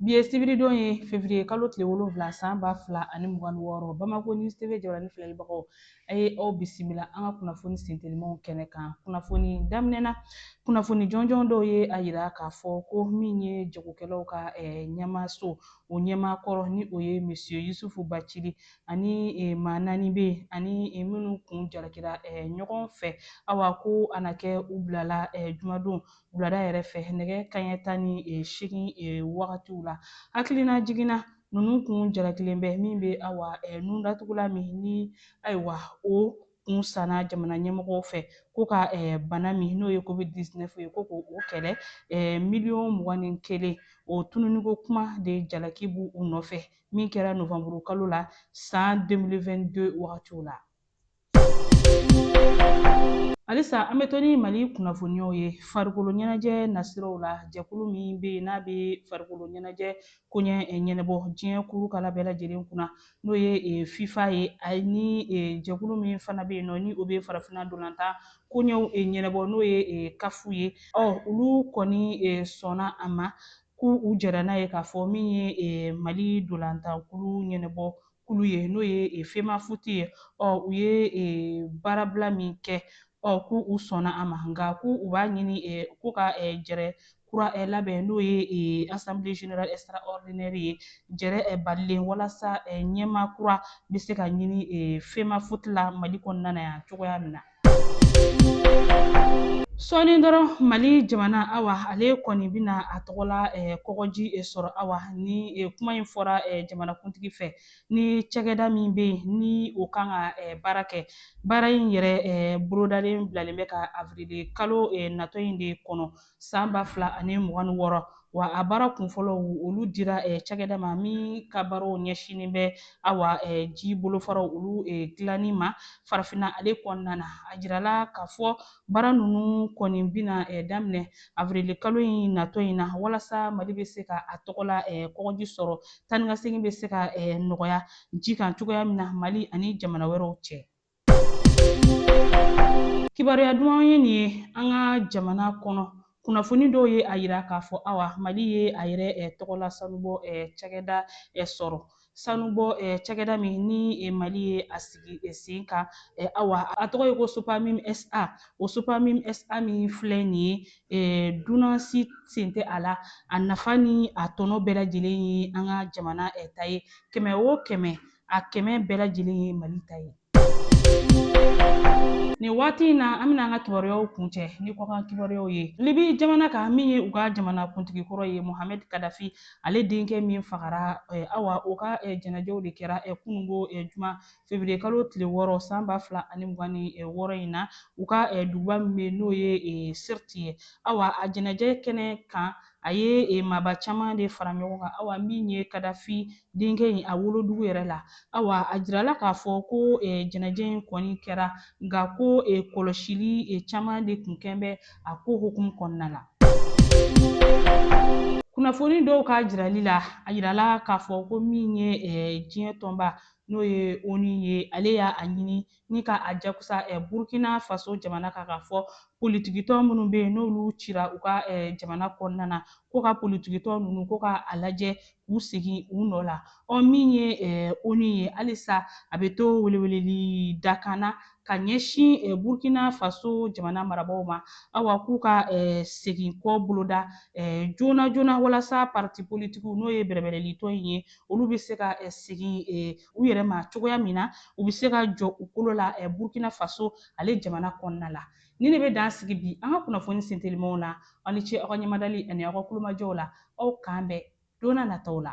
Bi ye sibiridon ye fevriye kalo tile wolonwula san ba fila ani mugan ni wɔɔrɔ Bamako News TV jabaranin filɛlibagaw a ye aw bisimila an ka kunnafoni sentelimanw kɛnɛ kan kunnafoni daminɛ na kunnafoni jɔnjɔn dɔw ye a yira k'a fɔ ko min ye jagokɛlaw ka ɲɛmaaso o ɲɛmaa kɔrɔ ni o ye Monsieur Yusufu Bacili ani maa naani bɛ yen ani minnu kun jalakira ɲɔgɔn fɛ awa ko a na kɛ u bilala jumadon wulada yɛrɛ fɛ nɛgɛ kaɲɛ tan ni e, seegin e, wagatiw la hakilinajigin na ninnu kun jalakilen bɛ min bɛ awa e, nundatugulan min ni ayiwa o kun sanna jamana ɲɛmɔgɔw fɛ ko ka bana min n'o ye covid 19 ye ko ko o kɛlɛ miliyɔn mugan ni kelen o tununniko kuma de jalaki b'u nɔfɛ min kɛra novanburu kalo la san 2022 wagatiw la Halisa an bɛ to ni Mali kunnafoniyaw ye farikolo ɲɛnajɛ nasiraw la jɛkulu min bɛ yen n'a bɛ farikolo ɲɛnajɛ koɲɛ eh, ɲɛnɛbɔ diɲɛ kurukala bɛɛ lajɛlen kunna n'o ye eh, FIFA ye ani eh, jɛkulu min fana bɛ yen nɔ ni o bɛ farafinna dolantan koɲɛw ɲɛnɛbɔ n'o ye CAF ye ɔ olu kɔni sɔnna a ma k'u u jɛra n'a ye k'a fɔ min ye Mali dolantankulu ɲɛnɛbɔ kulu ye n'o ye e, FEMAFOOT ye ɔ u ye e, baarabila min kɛ ɔ ko u sɔnna a ma nka ko u b'a ɲini e, ko ka e, jɛrɛ kura labɛn n'o ye assemblée générale extraordinaire ye jɛrɛ balalen walasa ɲɛmaa kura bɛ se ka ɲini FEMAFOOT la mali kɔnɔna na yan cogoya min na sɔɔni dɔrɔn mali jamana awa ale kɔni bɛna a tɔgɔla eh, kɔgɔji eh, sɔrɔ awa ni eh, kuma in fɔra jamanakuntigi fɛ ni cakɛda min bɛ yen ni o kan ka baara kɛ baara in yɛrɛ bolodalen bilalen bɛ ka avrili kalo natɔ in de kɔnɔ san ba fila ani mugan ni wɔɔrɔ wa a baara kunfɔlɔw olu dira eh, cakɛda ma min ka baaraw ɲɛsinnen bɛ awa eh, ji bolofaraw olu eh, dilanni ma farafina ale kɔnɔna na a jirala k'a fɔ baara ninnu kɔni bina daminɛ avrili kalo in natɔ in na walasa mali bɛ se ka a tɔgɔla kɔgɔji sɔrɔ taanikasegin bɛ se ka nɔgɔya ji kan cogoya min na mali ani jamana wɛrɛw cɛ Kibaruya duman ye nin ye an ka jamana kɔnɔ kunnafoni dɔw ye a yira k'a fɔ awa mali ye a yɛrɛ eh, tɔgɔla sanubɔ eh, cakɛda eh, sɔrɔ sanubɔ eh, cakɛda min ni eh, mali ye a sigi eh, sen kan eh, awa a tɔgɔ ye ko SOPAMIM SA o SOPAMIM SA min filɛ nin ye eh, dunan si sen tɛ a la a nafa ni a tɔnɔ bɛɛ lajɛlen ye an ka jamana eh, ta ye kɛmɛ o kɛmɛ a kɛmɛ bɛɛ lajɛlen ye mali ta ye nin waati in na an bɛna an ka kibaruyaw kuncɛ ni kɔkan kibaruyaw ye libi jamana ka min ye u ka jamana kuntigi kɔrɔ ye mohamed kadafi ale denkɛ min fagara eh, awa o ka eh, janajɛw de kɛra eh, kunungo eh, juma feburuye kalo tile wɔɔrɔ san ba fila ani mugan ni eh, wɔɔrɔ in na u ka eh, duguba min bɛ n'o ye eh, sirti ye awa a janajɛ kɛnɛ kan A ye e maaba caman de fara ɲɔgɔn kan awa min ye Kadafi denkɛ in a wolodugu yɛrɛ la. Awa a jirala k'a fɔ ko e janajɛ in kɔni kɛra nka ko e kɔlɔsili e caman de tun kɛlen bɛ a ko hukumu kɔnɔna la. Kunnafoni dɔw ka jirali la, a jirala k'a fɔ ko min ye e diɲɛ tɔnba n'o ye onu ye, ale y'a a ɲini ni ka a jakusa eh, burkina faso jamana kan k'a fɔ politikitɔn minnu bɛ yen n'olu cira u ka eh, jamana kɔnɔna na ko ka politikitɔn ninnu ko ka a lajɛ k'u segin u nɔ la ɔ min ye eh, onu ye halisa a bɛ to weleweleli dakanna ka ɲɛsin eh, burkina faso jamana marabaaw ma awa k'u ka eh, seginko boloda eh, joona joona walasa parti politikiw n'o ye bɛrɛbɛrɛlitɔn in ye olu bɛ se ka eh, segin eh, u yɛrɛ ma cogoya min na u bɛ se ka jɔ u kolo la burkina faso ale jamana kɔnɔna la nin de bɛ dan sigi bi an ka kunnafoni sentelimaw na aw ni ce aw ka ɲɛmadali ani aw ka kulomajɔw la aw k'an bɛn don na nataw la